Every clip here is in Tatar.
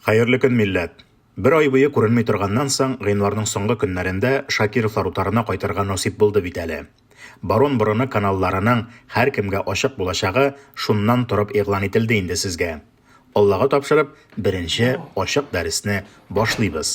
Хәерле көн, милләт! Бер ай буе күренми торганнан соң, гыйнварның соңгы көннәрендә Шакировлар утарына кайтырга насыйп булды бит әле. Барон борыны каналларының һәркемгә ачык булачагы шуннан торып игълан ителде инде сезгә. Аллага тапшырып, беренче ачык дәресне башлыйбыз.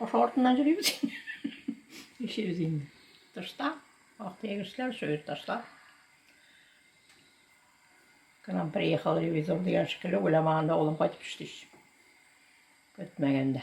Ошо артыннан йөрибез. Ишибез инде. Тышта вакыт егешләр шул тышта. К нам приехал ревизор дигән шикелле уйламаганда улым кайтып төште. Көтмәгәндә.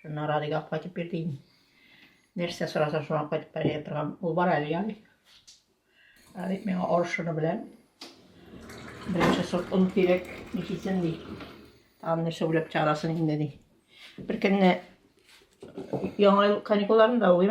Шуннан Радига кайтып бирде инде. Нәрсә сораса шуңа кайтып бәрә торган. Ул бар әле яный. Радик миңа орышыны белән. Беренче сорт он кирәк, ничесен ди. Там нәрсә уйлап чыгарасын инде ди. Бер көнне яңа ел каникулларында ул,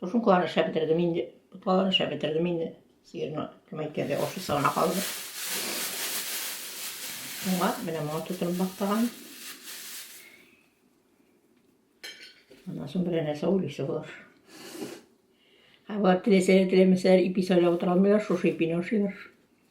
Тушенкаларын эшләп бетердем инде. Боткаларын эшләп бетердем инде. Сыерны кем әйткәндә ашы сагына калды. Моңа, менә моңа тутырып бактаган. Аннан соң берәр нәрсә уйлыйсы болар. Ә болар теләсәләр, теләмәсәләр, ипи сайлап утыра алмыйлар, шушы ипине ашыйлар.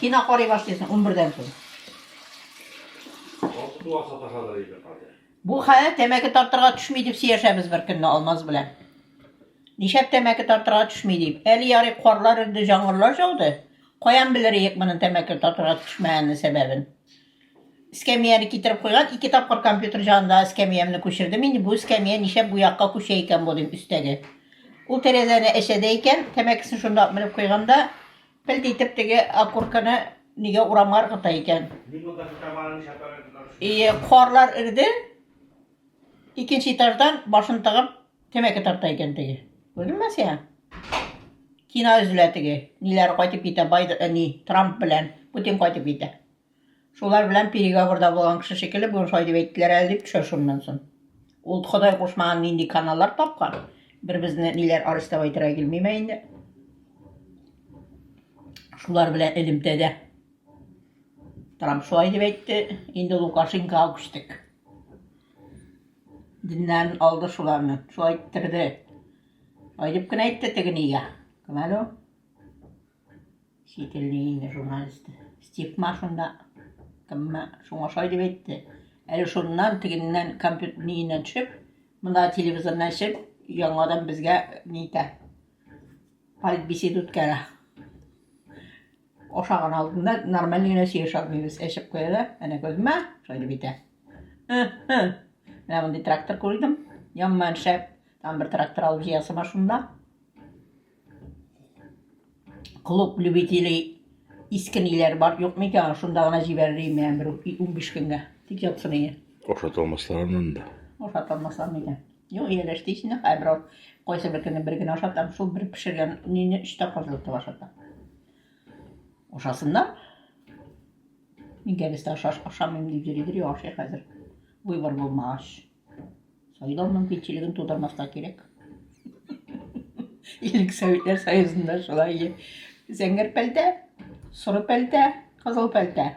Кино карый башлыйсың унбердән соң. Бу хәл тәмәке тартырга төшми дип сөйләшәбез бер көнне Алмаз белән. Нишәп тәмәке тартырга төшми дип. Әле ярый карлар өрде, җаңгырлар жауды. Каян белер идек моның тәмәке тартырга төшмәгәннең сәбәбен? Эскәмияне китереп куйган, ике тапкыр компьютер җанында эскәмиямне күчердем. Инде бу эскәмия нишәп бу якка күчә икән бу дим өстәге. Ул тәрәзәне әчәдә икән, тәмәкесен шунда менеп куйганда, Пелт итеп теге окурканы нигә урамга ыргыта икән? И, карлар эрде, икенче этаждан башын тыгып тәмәке тарта икән теге. Күрдеңме син? Кино өзелә теге. Ниләр кайтып китә, бай, э, ни, Трамп белән Путин кайтып китә. Шулар белән переговорда булган кеше шикелле, бүген шулай дип әйттеләр әле дип төшә шуннан соң. Ул Ходай кушмаган нинди каналлар тапкан. Бер безне ниләр арестовать итәргә килмиме инде. Шулар белән элемтәдә. Трамп шулай дип әйтте, инде Лукашенкога күчтек. Диннән алды шуларны, шулай иттерде. Шулай дип кенә әйтте тегенегә. Кем әле ул? Сителлиине журналисты. Стигма шунда кемме шуңа шай дип әйтте. Әле шуннан тегеннән компьютер ниеннән төшеп, монда телевизорны ачып, яңадан безгә ни итә. Политбесед үткәрә. Ашаган алдында нормаль генә сөйләшә алмыйбыз. Әчеп куялар, әнә күзмә, шай дип әйтә. Менә мондый трактор күрдем. Яман шәп. Там бер трактор алып җыясыма шунда. Клуб любителей иске ниләр бар, юк микән? Шунда гына җибәрер идем мин бер 15 көнгә. Тик ятсын иде. Ашата алмаслар аннан да. Ашата алмаслар микән? Юк, ияләште исенә хәбер ул. Кайсы бер көнне бер генә ашатам, шул бер пешергән нине өч тапкыр җылытып ашатам. Ашасыннар. Мин кәбестә ашаш ашамыйм дип йөридер, ашый хәзер. Выбор булмагач. Сайлау мөмкинчелеген тудырмаска кирәк. Илек Советлар Союзында шулай зәңгәр пәлтә, соры пәлтә, кызыл пәлтә.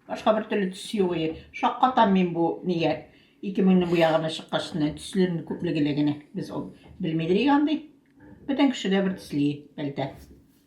Башка бер төрле төс юк. Шаккатам мин бу нигә. 2000 бу ягына чыккачны төсләрне күплегеле генә. Без ул белмидер ягын ди. Бөтен кеше дә бер төсле пәлтә.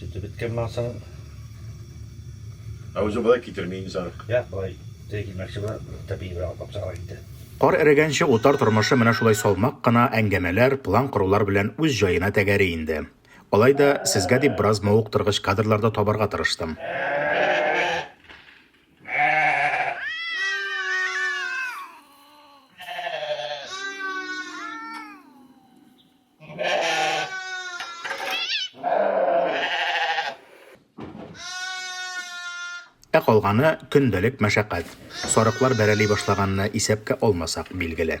Сөте беткәннән соң. Ә үзе болай китерми инде сарык. Я, болай тәй килмәкче була, тәпи бер алып чыгара инде. Кар эрегәнче утар тормышы менә шулай салмак кына әңгәмәләр, план корулар белән үз җаена тәгәри инде. Алай да, сезгә дип бераз мавыктыргыч кадрлар да табарга тырыштым. Ә калганы көндәлек мәшәкать. Сарыклар бәрәли башлаганны исәпкә алмасак, билгеле.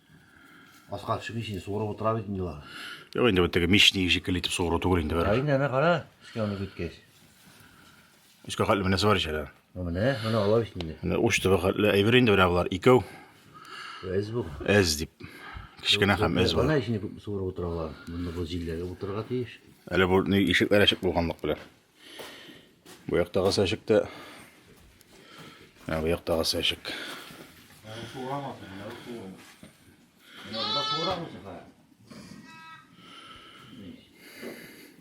Аска төшеп ничек инде суырып утыра бит инде алар. Юк инде бу теге мичник шикелле итеп суыру түгел инде бер. Әйне әнә кара, өскә аны көткәч. Өскә хәтле менәсе бар ичәдә. Ну менә, менә алар бит инде. Менә уч төбе хәтле әйбер инде менә болар икәү. Әз бу. Әз дип. Кечкенә һәм әз бар. Менә ишне күп суырып утыралар. Монда бу җилләргә утырырга тиеш. Әле бу ишекләр ачык булганлык белән. Бу яктагы сәчек тә Ә бу яктагы сәчек.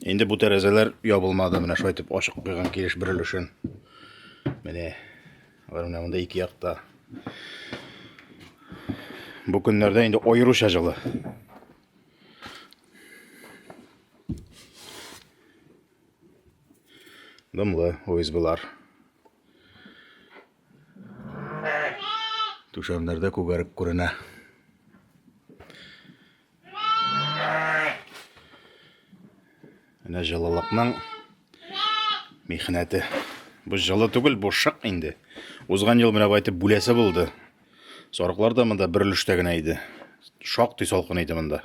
Инде бу тәрәзәләр ябылмады, менә шулай итеп ачык куйган килеш бер өлешен. Менә алар менә монда ике якта. Бу көннәрдә инде аеруча җылы. Дымлы ОСБлар. Түшәмнәрдә күгәрек күренә. Менә җылылыкның михнәте. Бу җылы түгел, бу шык инде. Узган ел менә байтып бүләсе булды. Сарыклар да монда бер өлештә генә иде. Шактый салкын иде монда.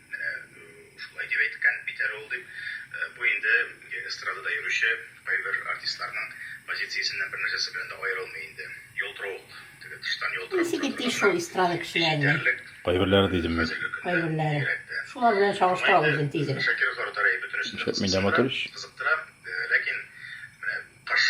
Менә шулай дип әйткән бит әле ул, дип, бу инде эстрадада йөрүче кайбер артистларның позициясеннән бер нәрсәсе белән дә аерылмый инде. Ялтыравык, теге тыштан ялтырап тора торган да, җитәрлек. Кайберләре дидем мин. Хәзерге көндә бигрәк тә. Шуңа инде Шакиров Арутари бөтенесен дә кызыксындыра, кызыктыра, ләкин менә кыш.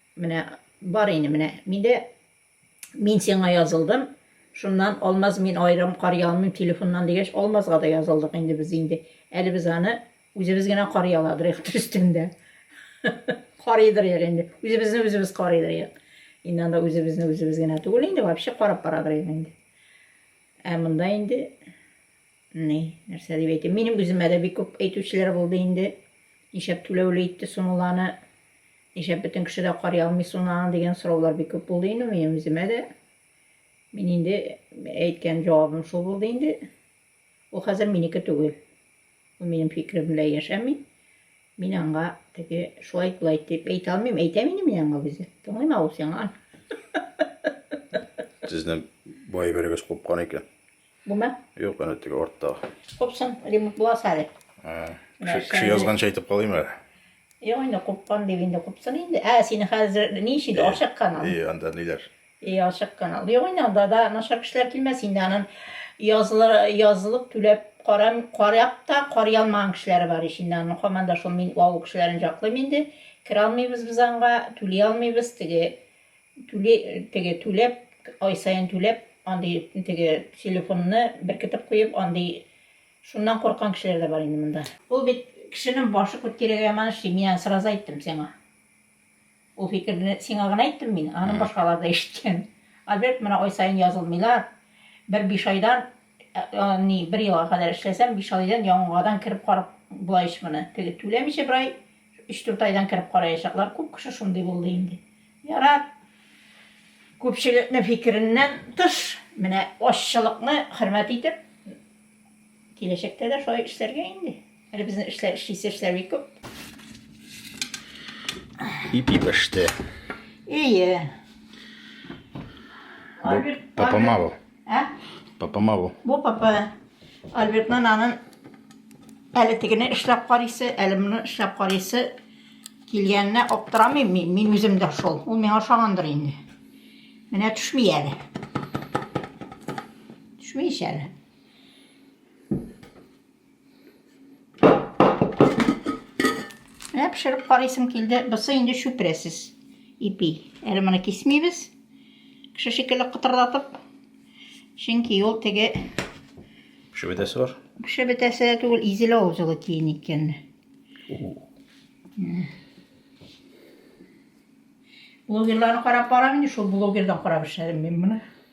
Менә бар инде менә миндә мин сиңа язылдым шуннан алмаз мин аерым карый алмыйм телефоннан дигәч алмазга да язылдык инде без инде әле без аны үзебез генә карый аладырыйк төстендә карыйдырыйк инде үзебезне үзебез карыйдырыйк инде анда үзебезне үзебез генә түгел инде вообще карап барадырыйк инде ә монда инде Ни, нәрсә дип әйтим, минем үземә дә бик күп әйтүчеләр булды инде. Ничәп түләүле итте сунуланы, ничәп бөтен кеше дә карый алмый сунуланы дигән сораулар бик күп булды инде минем үземә дә. Мин инде әйткән җавабым шул булды инде. Ул хәзер минеке түгел. Ул минем фикерем белән яшәми. Мин аңа теге шулай булай дип әйтә алмыйм. Әйтә минем мин аңа үзе. Тыңлыйм авыл сиңа. Сезне бай бергәс купкан икән. Бума? Юк, әнә теге артта. Купсын, ремонт буласы әле. Кеше язганча әйтеп калыйм әле. Юк, инде купкан дип инде купсын инде. Ә, сине хәзер ни өчен дә ашык канал. И, анда ниләр? И, ашык канал. Юк, инде анда да начар кешеләр килмәс инде. Анын язылып, язылып түләп карам, карап та карый алмаган кешеләре бар ич инде. Анын хаман да шул мин авыл кешеләрен жаклыйм инде. Кер алмыйбыз без анга, түли алмыйбыз теге Түли, теге түләп, ай саен түләп, андый теге телефонны беркетеп куеп, андый шуннан курккан кешеләр дә бар инде монда. Ул бит кешенең башы күт кирәге яман ши, мин аны сразу әйттем сиңа. Ул фикерне сиңа гына әйттем мин, аны башкалар да ишеткән. Альберт, менә ай саен язылмыйлар, бер биш айдан, ни, бер елга кадәр эшләсәм, биш айдан яңадан кереп карап була ич моны. Теге түләмичә бер ай, өч-дүрт айдан кереп караячаклар, күп кеше шундый булды инде. Ярар, күпчелекнең фикереннән тыш, менә ашчылыкны хөрмәт итеп, киләчәктә дә шулай эшләргә инде. Әле безнең эшләр, эшлисе эшләр бик күп. Ипи пеште. Ие. Бу попомал. Ә? Папама бу. Бу папа Альбертның анын әле тегене эшләп карыйсы, әле моны эшләп карыйсы килгәненә аптырамыйм мин, мин үзем дә шул. Ул миңа ошагандыр инде. Менә төшми әле. Төшми әле. Ә пешереп карыйсым килде. Бусы инде чүпрәсез ипи. Әле моны кисмибез. Кеше шикелле кытырдатып. Чөнки ул теге пешеп бетәсе бар. Пешеп бетәсе дә түгел, изелә ул җылы киен икән. Блогерларны карап барам инде, шул блогердан карап эшләдем мин моны.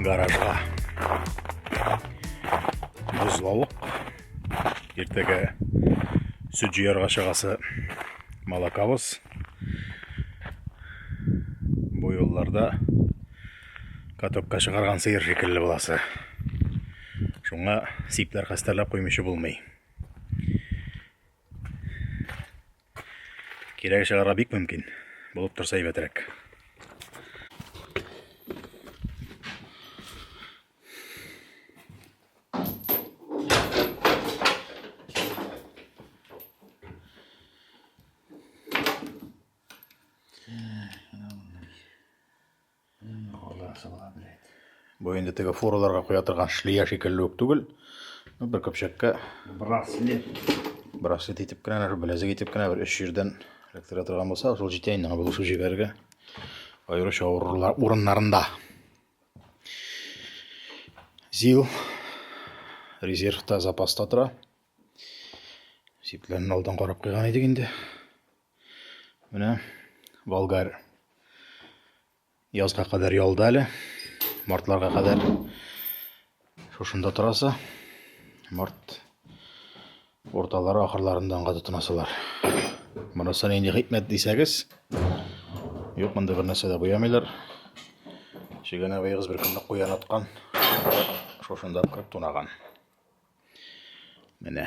гаражга бозлавык иртәгә сөт җыярга чыгасы малакабыз бу юлларда катокка чыгарган сыер шикелле буласы шуңа сипләр хәстәрләп куймыйчы булмый Кирәге чыгарга бик мөмкин. Булып торса әйбәтрәк. Бу инде теге фураларга куя торган шлия шикелле үк түгел. Бер көпчәккә браслет. Браслет итеп кенә, бер беләзек итеп кенә бер өч җирдән эләктерә торган булса, шул җитә инде аңа булышу җигәргә. Аеруча авырлар урыннарында. Зил резервта запаста тора. Сипләрен алдан карап куйган идек инде. Менә Болгар язга кадәр ялда әле. Мартларга кадәр шушында торасы. Март урталары ахырларында аңга тотынасылар. Монысы нинди хикмәт дисәгез, юк монда бер нәрсә дә буямыйлар. Чегән абыегыз бер көнне куян аткан, шушында кырып тунаган. Менә.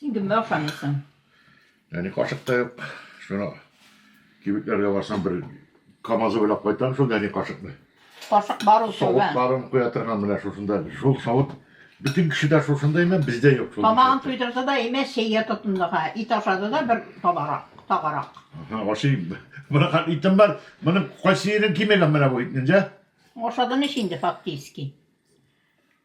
Син кемгә охшамыйсың? Әни кашык та юк. Шуны кибетләргә барсам бер КАМАЗы белән кайтам шул әни кашыкны. Кашык бар ул шул. Савытларын куя торган менә шушында. Шул савыт бөтен кешедә шушында имә, бездә юк шул. Тамагын туйдырды да имә чәйгә тотынды ха. Ит ашады да бер табарак, тагарак. Ага, ашыйм. Менә хат итем бар. Моның кайсы ерен кимәгән менә бу итнең, җә? Ашады ничә инде фактически.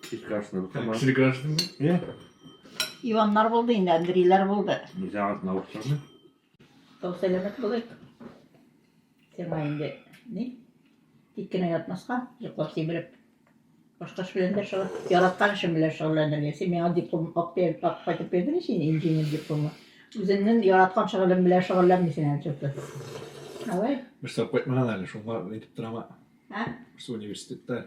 Кече граждан кама. Кече граждан. Е. Иваннар булды инде, Андрейлар булды. Нельзя от наушника. Тау сәләмәт булыйк. Сиңа инде ни? Тик кенә ятмаска, йоклап сибелеп. Башка эш белән дә шугыл. Яраткан эшем белән шөгыльләнергә. Син миңа диплом алып бер- алып кайтып бирдең син инженер дипломы. Үзеңнең яраткан шөгылең белән шөгыльләнмисең әле чөнки. Давай. Берсе алып кайтмаган әле, шуңа әйтеп торам. Ә? Берсе университетта.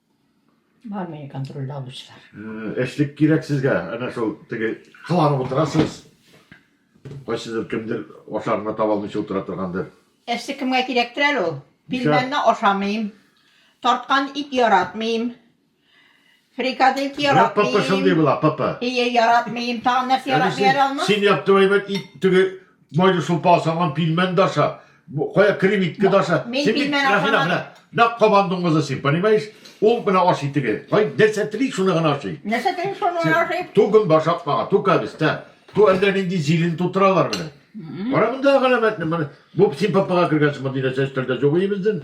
Бар мени контрольда алучылар. Эшлек кирәк сезгә. Әнә шул теге кыланып утырасыз. Кайсыдыр кемдер ашарына таба алмыйча утыра торгандыр. Эшлек кемгә кирәктер әле ул? Пилмәнне ашамыйм. Тарткан ит яратмыйм. Фрикадельки яратмыйм. Менә ПП шундый була, ПП. Ие, яратмыйм. Тагын нәрсә яратмый әле алма? Син яптым әйбәт ит теге Майда шулпа ашаган пилмән даша. Кая кремитке даша. Мин пилмән ашамадым. На команду маза син, понимаешь? Ул менә аш итеге. Кай нәрсә тели шуны гына ашый. Нәрсә тели шуны гына ашый. Ту гөн башак мага, ту кабис, та. Ту әллә нинди зилен тутыралар менә. Кара монда галәмәтне менә. Бу син папага кергәнсең монда нәрсә өстәлдә җугый бездән.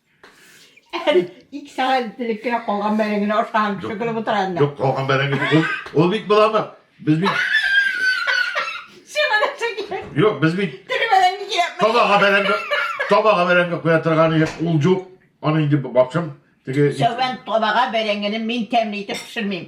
Әле ике сәгать ителеп кенә калган бәрәңгене ашаган кеше көлеп утыра инде. Юк, калган бәрәңге ул, ул бит буланы. Без бит Сиңа нәрсә кирәк? Юк, без бит Тере бәрәңге кирәкме? табага бәрәңге, табага бәрәңге куя торган идек. Ул юк. Аны инде бакчам теге Сәүбән табага бәрәңгене мин тәмле итеп пешермим.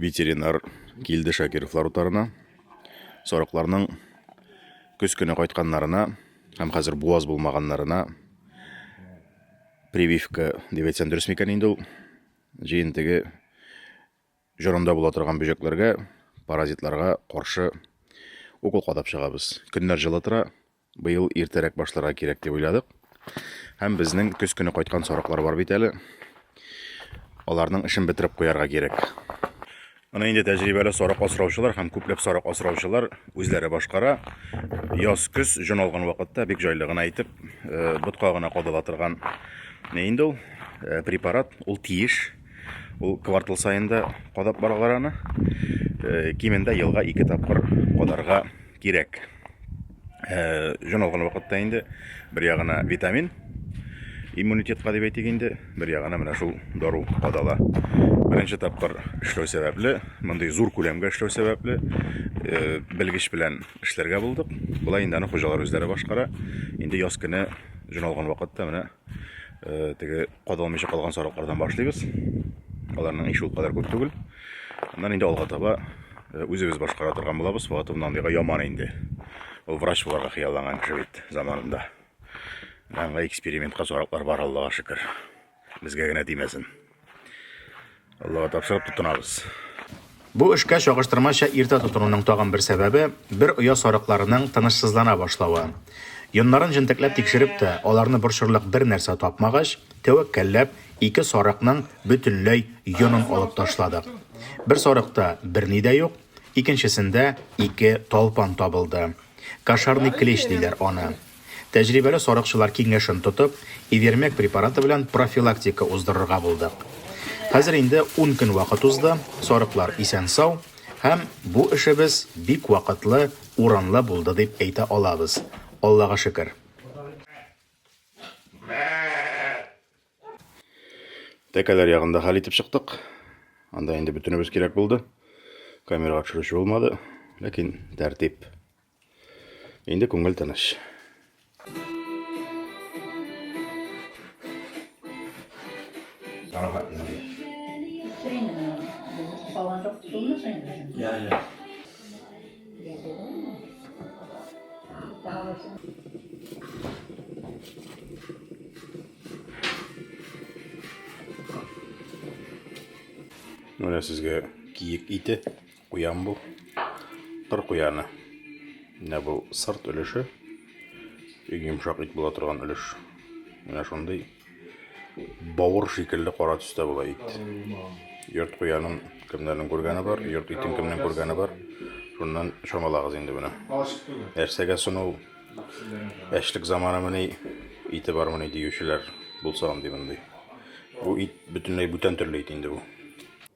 Ветеринар килде Шакировлар утарына. Сарыкларның көз көне кайтканнарына һәм хәзер буаз булмаганнарына прививка дип әйтсәм дөрес микән инде ул җыентеге җорында була торган бөҗәкләргә, паразитларга каршы укол кадап чыгабыз. Көннәр җылы тора, Быел иртәрәк башларга кирәк дип уйладык. Һәм безнең көз көне кайткан сарыклар бар бит әле. Аларның эшен бетереп куярга кирәк. Аны инде тәҗрибәле сарык асраучылар һәм күпләп сарык асраучылар үзләре башкара. Яз көз җон алган вакытта бик җайлы гына итеп э, ботка гына кадала торган не инде ул э, препарат, ул тиеш. Ул квартал саен да кадап баралар аны. Э, кимендә елга ике тапкыр кадарга кирәк. Э, җан алган вакытта инде бер ягына витамин, иммунитетка дип әйтик инде, бер ягына менә шул дару кадала. Беренче тапкыр эшләү сәбәпле, мондый зур күләмгә эшләү сәбәпле, э, белгеч белән эшләргә булдык. Болай инде аны хуҗалар үзләре башкара. Инде яз көне җан алган вакытта менә э, теге Кадалмыйча калган сарыклардан башлыйбыз. Аларның ише ул кадәр күп түгел. Аннан инде алга таба э, үзебез башкара торган булабыз. Фатовна андыйга яман инде. Ул врач буларга хыялланган кеше бит заманында. Аңа экспериментка сараклар бар, Аллага шөкер. Безгә генә тимәсен. Аллага тапшырып тотынабыз. Бу эшкә чагыштырмача иртә тотынуның тагын бер сәбәбе, бер оя сарыкларының тынычсызлана башлавы. Йоннарын җентекләп тикшереп тә, аларны борчырлык бер нәрсә тапмагач, тәвәккәлләп, ике сарыкның бөтенләй йонын алып ташладык. Бер сарыкта берни дә юк, икенчесендә ике талпан табылды. Кошарный клещ диләр аны. Тәҗрибәле сарыкчылар киңәшен тотып, Ивермек препараты белән профилактика уздырырга булдык. Хәзер инде ун көн вакыт узды, сарыклар исән-сау һәм бу эшебез бик вакытлы, урынлы булды дип әйтә алабыз, Аллага шөкер. Тәкәләр ягын да хәл итеп чыктык. Анда инде бөтенебез кирәк булды. Камерага төшерүче булмады, ләкин тәртип. Инде күңел тыныч. Карага инде. Я, я. Менә сезгә киек ите. Куям бу. Кыр куяны. Менә бу сырт өлеше. Иң йомшак ит була торган өлеш. Менә шундый бавыр шикелле кара төстә була ит. Йорт куянын кемнәрнең күргәне бар, йорт итен кемнең күргәне бар. Шуннан чамалагыз инде менә. Нәрсәгә сону әчлек заманы мени ите бар мени диючеләр булса андый мондый. Бу ит бөтенләй бүтән төрле ит инде бу.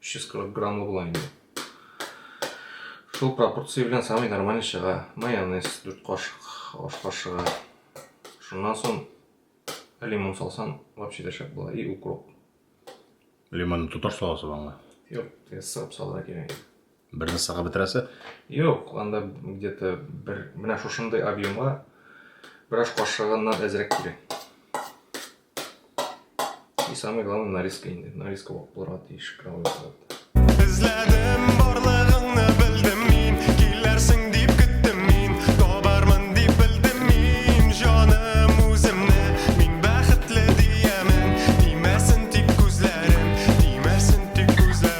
300 кырык граммлы була инде шул пропорция белән самый нормальный чыга майонез 4 кашык аш кашыгы шуннан соң лимон салсаң вообще дә шәп була и укроп лимонны тоташ саласыз аңа юк сырып салырга кирәк Бер носсага бетерәсе? Юк, анда где-то бер менә шушындый объемга бер аш кашыгыннан әзрәк кирәк. И самое главное нарезка инде. Нарезка булып булырга тиеш калмый. Эзләдем барлыгыңны белдем мин, килерсең дип көттем мин, табармын дип белдем мин, җаным үземне мин бәхетле диемен, тимәсен тик күзләрем, тимәсен тик күзләрем.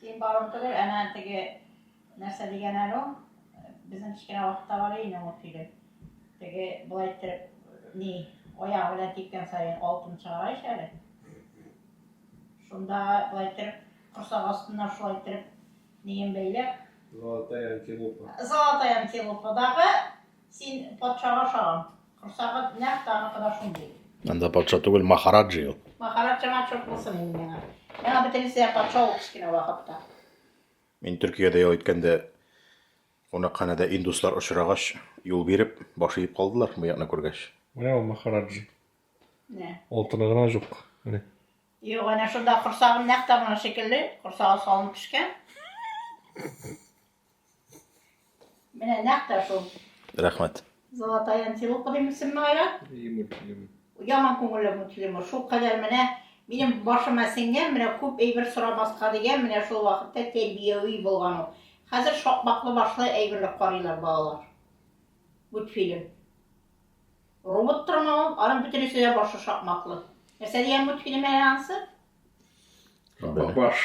Син барып түгел, әнә теге нәрсә дигән әле ул, безнең кечкенә вакытта бар иде ул фильм. Теге болай иттереп, ни, аягы белән типкән саен алтын чыгара ич әле. Шунда болай иттереп, корсак астына шулай иттереп, ниен бәйләп. Золотая антилопа. Золотая антилопадагы Син патшага ошаган. Корсагыд нәкъ тагы кыда шундый. Анда патша түгел, махараджи ул. Махараджама чорт булсын инде миңа. Миңа бөтенесе патша ул кечкенә вакытта. Мин Төркиядә ял иткәндә кунакханәдә индуслар очрагач, юл биреп, баш иеп калдылар, бу якны күргәч. Менә ул махараджи. Менә. Алтыны гына юк. Менә. Юк, әнә шунда корсагым нәкъ тагына шикелле, корсагы салынып пешкән. Менә нәкъ тә шул. Рәхмәт. Золотая антилопа дим исемне айра. Яман күңелле мультфильм. Шул кадәр менә минем башыма сеңгән, менә күп әйбер сорамаска дигән, менә шул вакытта тәрбияви булган ул. Хәзер шакмаклы башлы әйберләр карыйлар балалар. Мультфильм. Робот торма ул, аның бөтенесе дә башы шакмаклы. Нәрсә дигән мультфильм әнә ансы? Баш.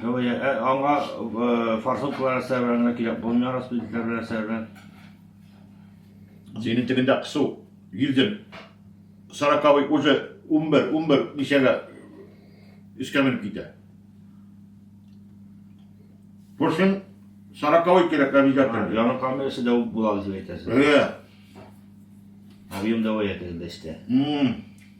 Аңа форсункалар әсәрләр генә кирәк булмый, распределитель белән әсәрләр. Зинин тегендә кысу, йөзем, сороковый уже унбер, унбер ничәгә өскә менеп китә. Күрсен, сороковый кирәк обязательно. Яңа камерасы да була, дип әйтәсез. Әйе. Объем давай әйтәсез дә истә.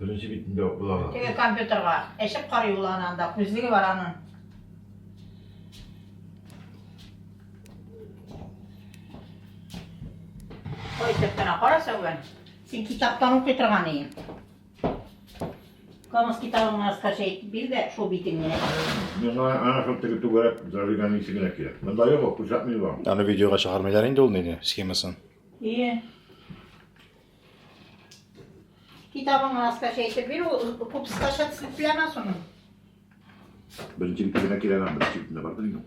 Беренче битендә ук була ала. Теге компьютерга әчеп карый ул аны анда, күзлеге бар аның. Кайтып кына кара Сәүбән. Син китаптан укый торган идең. Камыс китабын раскача итеп бир дә, шул битен генә. Миңа ана шул теге түгәрәк зажиганның ишегенә килә. Монда юк, кушатмый бар. Аны видеога чыгармыйлар инде ул нене, схемасын. И, Китабыңны аскача әйтеп бир, ул күпсе таша төсле теләмә шуны. Беренче битенә кирәгән, беренче битенә бардыр инде.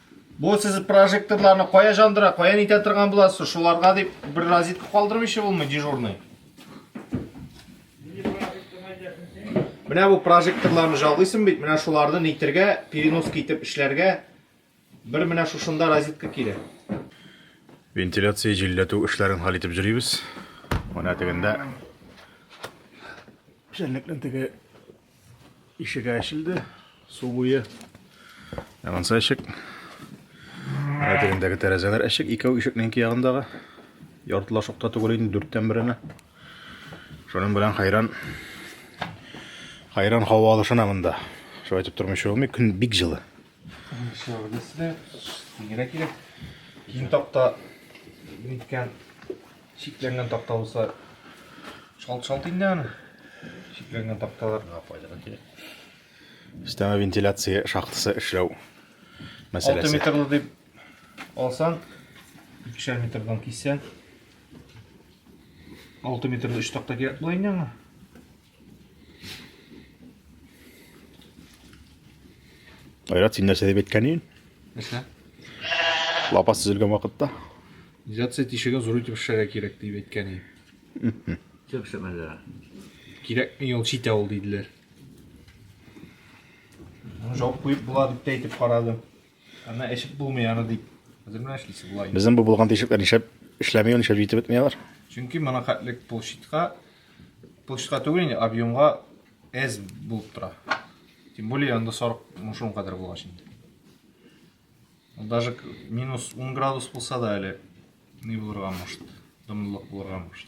Бу сез прожекторларны кая жандыра, кая нитә торган буласыз? Шуларга дип бер розетка калдырып ише булмый дежурный. Менә бу прожекторларны жалыйсың бит, менә шуларны нитергә, перенос китеп эшләргә бер менә шушында розетка кирәк. Вентиляция җилләтү эшләрен хәл итеп җөрибез. Менә тегендә. Шәнлекнең теге Ишек ачылды, су буе. Ә монсы ишек. Әтегендәге тәрәзәләр ишек, икәү ишекнең ике ягындагы. Яртыла шокта түгел инде, дүрттән беренә. Шуның белән хайран хайран һава алышына монда. Шулай итеп тормыйча булмый, көн бик җылы. Шөгылдәсе дә киңрәк кирәк. Киң такта ниткән Чикләнгән такта булса, шалт-шалт инде аны. Чикләнгән такталар миңа файдага кирәк. Өстәмә вентиляция шахтасы эшләү мәсьәләсе. 6 метрлы дип алсаң, 2 метрдан киссәң, 6 метрлы 3 такта кирәк була инде аңа. Айрат, син нәрсә дип әйткән идең? Нәрсә? Лапас төзелгән вакытта. Изоляция тишеген зур итеп эшләргә кирәк дип әйткән идең. Төп шәмәлләр. Кирәкми ул читә ул диделәр. Жауып куеп була дип әйтеп карадым. Аны эчеп булмый аны дип. Хәзер менә эшлисе була. Безнең бу булган тишекләр нишләп эшләми, нишләп җитеп бетми алар? Чөнки моның хәтлек площадька площадька түгел инде, объемга әз булып тора. Тем более анда сарык мушун кадәр булгач инде. Даже минус 10 градус булса да әле ни булырга может, дымлылык булырга может.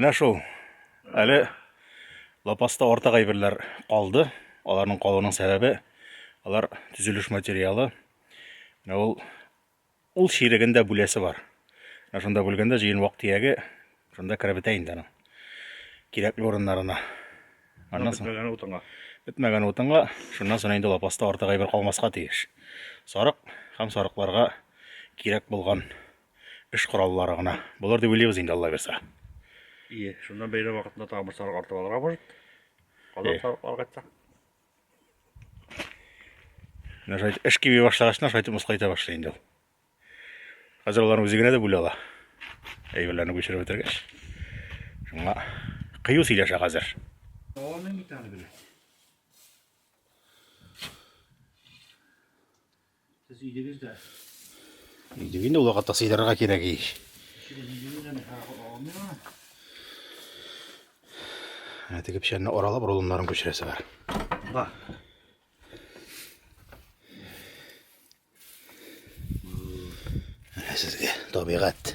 Менә шул. Әле лапаста ортак әйберләр калды. Аларның калуының сәбәбе алар төзелеш материалы. Менә ул Ул чиреген дә бүләсе бар. Ә шунда бүлгәндә җыен вак тияге шунда кереп бетә инде аның. Кирәкле урыннарына. Аннан соң бетмәгән утынга. Бетмәгән утынга, шуннан соң инде лапаста артык әйбер калмаска тиеш. Сарык һәм сарыкларга кирәк булган эш кораллары гына. Болар дип уйлыйбыз инде Алла бирса. Ие, шуннан бәйрәм вакытында тагын бер сарык артып алырга может. Казан сарыкларга кайтсак. Менә шайтып, эш киби башлагачна шайтып мыскайта башлый инде ул. Хәзер аларны үзе генә дә бүлә ала. Әйберләрне күчереп бетергәч. Шуңа кыю сөйләшә хәзер. Дәвамын бит аны белә. Сез идегез дә. Идеге инде вакытта сыйдырырга кирәк ич. Ә теге печәнне аралап рулоннарын күчерәсе бар. Бар. Сезгә табигать.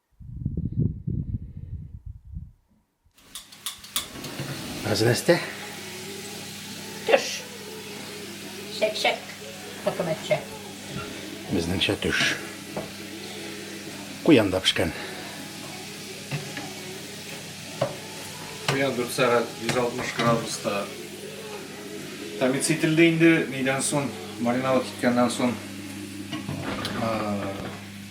Хәзрәстә. Төш. Шәк-шәк. Хөкүмәтчә. Безнеңчә төш. Куян да пешкән. Куян 4 сәгать 160 градуста тәмиз ителде инде. Нидән соң, мариновать иткәннән соң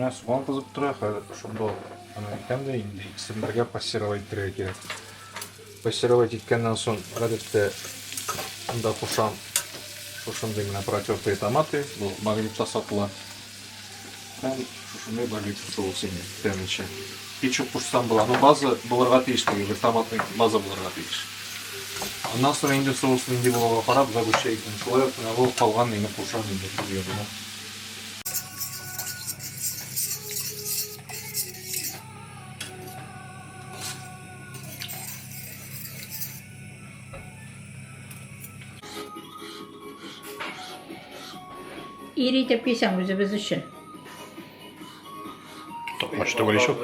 Менә суган кызып тора, хәзер шунда аны әйтәм дә инде икесен бергә пассировать итәргә кирәк. Пассировать иткәннән соң, гадәттә, анда кушам шушындый менә протертые томаты, бу магнитта сатыла. Һәм шушындый барбекю соусы инде тәмлечә. Кетчуп кушсам була, но база булырга тиеш теге бер томатный база булырга тиеш. Аннан соң инде соус нинди булуга карап, загущайканы шулай ук менә бу калган нигә кушам инде бульонына. Ир итеп кисәң үзебез өчен. Токмач түгел ишү.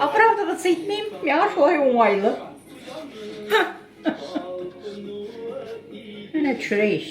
Оправдываться итмим, миңа шулай уңайлы. Менә төшерәйш.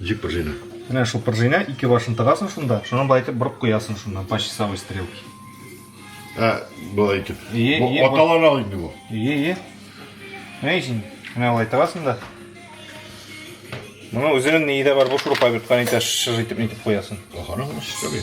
Җик пружина. Менә шул пружина ике башын тыгасың шунда, шуны болай итеп борып куясың шуннан по часовой стрелке. Ә, болай итеп. Аталар ал инде бу. Ие, ие. Менә исең. Менә болай тыгасың да. Моның үзенең ние дә бар, бу шурупа бит, каны итә шыж итеп нитеп куясың. Ахарың шыж.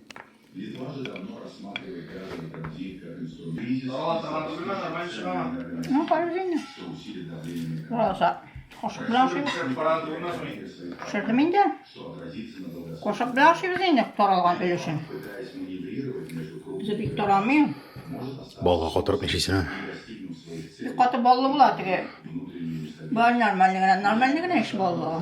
Ну, параллельно. Роза. Кошык белән ашыйбыз. Пешердем инде. Кошык белән ашыйбыз инде таралган өлешен. Үзе бик тарамый. Балга катырып ничесен. Бик каты баллы була теге. Бар нормальный генә, нормальный генә еш баллы.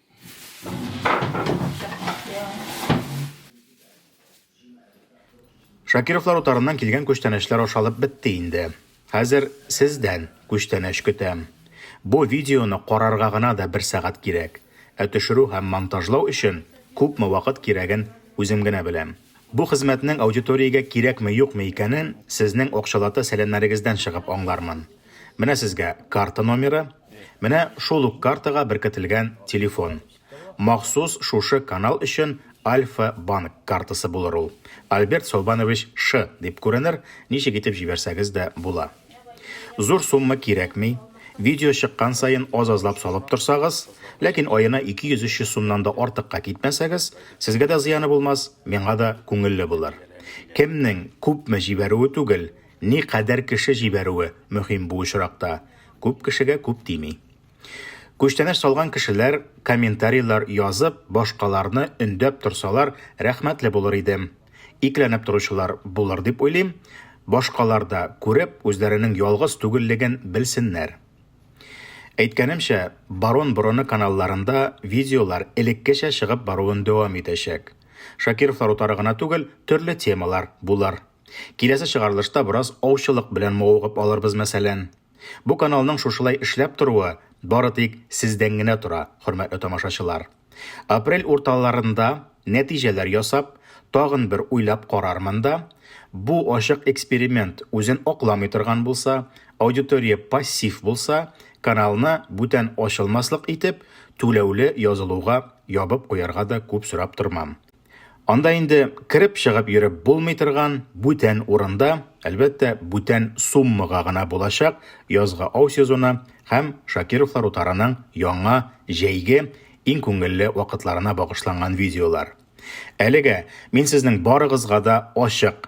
Шакировлар утарыннан килгән күчтәнәчләр ашалып бетте инде. Хәзер сездән күчтәнәч көтәм. Бу видеоны карарга гына да бер сәгать кирәк. Ә төшерү һәм монтажлау өчен күпме вакыт кирәген үзем генә беләм. Бу хезмәтнең аудиториягә кирәкме-юкмы икәнен сезнең акчалата сәламнәрегездән чыгып аңлармын. Менә сезгә карта номеры, менә шул ук картага беркетелгән телефон. Махсус шушы канал өчен Альфа-банк картасы булыр ул. Альберт Солбанович Шы дип күренер, ничек итеп җибәрсәгез дә була. Зур сумма кирәкми, видео чыккан саен аз-азлап салып торсагыз, ләкин аена 200-300 сумнан да артыкка китмәсәгез, сезгә дә зыяны булмас, миңа да күңелле булыр. Кемнең күпме җибәрүе түгел, Ни кадәр кеше җибәрүе мөһим бу очракта, күп кешегә күп тими. Күчтәнәч салган кешеләр комментарийлар язып, башкаларны өндәп торсалар, рәхмәтле булыр идем. Икеләнеп торучылар булыр дип уйлыйм. Башкалар да күреп, үзләренең ялгыз түгеллеген белсеннәр. Әйткәнемчә, Барон борыны каналларында видеолар элеккечә чыгып баруын дәвам итәчәк. Шакировлар утары гына түгел, төрле темалар булыр. Киләсе чыгарылышта бераз аучылык белән мавыгып алырбыз, мәсәлән. Бу каналның шушылай эшләп торуы бары тик сездән генә тора, хөрмәтле тамашачылар. Апрель урталарында, нәтиҗәләр ясап, тагын бер уйлап карармын да, бу ачык эксперимент үзен акламый торган булса, аудитория пассив булса, каналны бүтән ачылмаслык итеп, түләүле язылуга ябып куярга да күп сорап тормам. Анда инде кереп-чыгып йөреп булмый торган бүтән урында, әлбәттә, бүтән суммага гына булачак язгы ау сезоны һәм Шакировлар утарының яңа, җәйге, иң күңелле вакытларына багышланган видеолар. Әлегә мин сезнең барыгызга да ачык.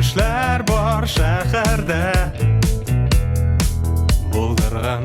Эшләр бар шәһәрдә булдырган